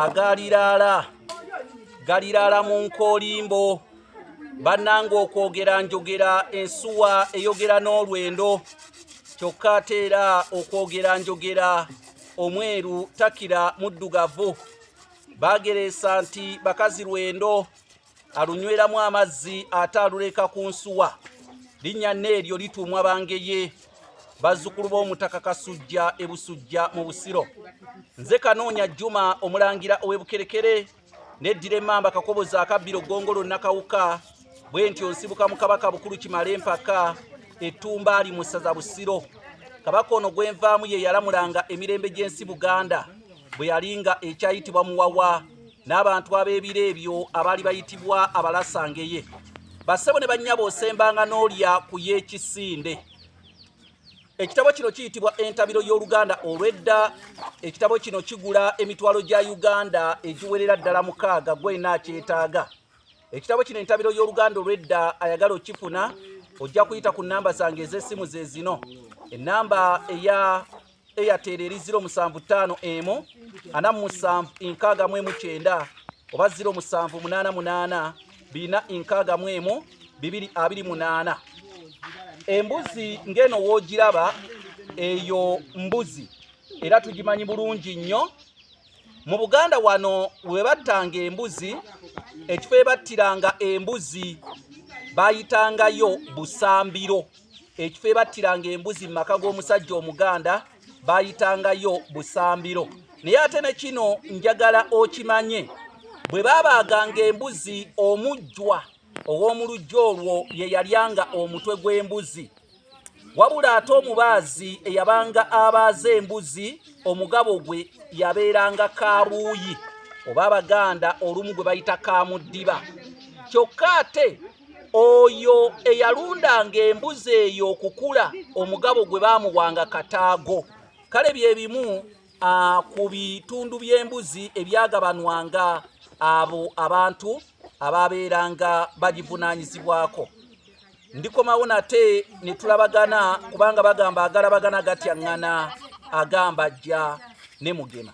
agaliraala galiraala mu nkoolimbo bannanga okwogera njogera ensuwa eyogera n'olwendo kyokka ate era okwogera njogera omweru takira muddugavu baagereesa nti bakazi lwendo alunyweramu amazzi ate aluleeka ku nsuwa linnya neeryo lituumwa bangeye bazzukulu b'omutaka kasujja e busujja mu busiro nze kanoonya juma omulangira ow'ebukerekere neddira emmamba kakobozi akabbiro gongolo nakawuka bwe ntyo nsibuka mu kabaka bukulu kimala empaka ettumba ali mu ssaza busiro kabaka ono gwenvaamu ye yalamulanga emirembe gy'ensi buganda bwe yalinga ekyayitibwa muwawa n'abantu ab'ebiro ebyo abaali bayitibwa abalasangeye bassebo ne bannyabo osembanga n'olya ku y'ekisinde ekitabo kino kiyitibwa entabiro y'oluganda olw'edda ekitabo kino kigula emitwalo gya uganda egiwerera ddala mukaaga gwena akyetaaga ekitabo kino entabiro y'oluganda olw'edda ayagala okifuna ojja kuyita ku nnamba zange ez'essimu ze zino ennamba eya airtel eri 075 emu ana musanvu enkaaga mu emu kyenda oba 078 bina enkaaga mu emu bibiri abiri munaana embuzi ng'eno woogiraba eyo mbuzi era tugimanyi bulungi nnyo mu buganda wano webattanga embuzi ekifo ebattiranga embuzi bayitangayo busambiro ekifo ebattiranga embuzi mu maka g'omusajja omuganda bayitangayo busambiro naye ate ne kino njagala okimanye bwe baabaaganga embuzi omujjwa ow'omulujja olwo ye yalyanga omutwe gw'embuzi wabula ate omubaazi eyabanga abaaza embuzi omugabo gwe yabeeranga kabuuyi oba abaganda olumu gwe bayita kamuddiba kyokka ate oyo eyalundanga embuzi eyo okukula omugabo gwe baamuwanga kataago kale bye bimu ku bitundu by'embuzi ebyagabanwanga abo abantu abaabeeranga bagivunaanyizibwako ndikomawo nate ne tulabagana kubanga bagamba agalabagana gatyaŋŋana agamba ajja ne mugema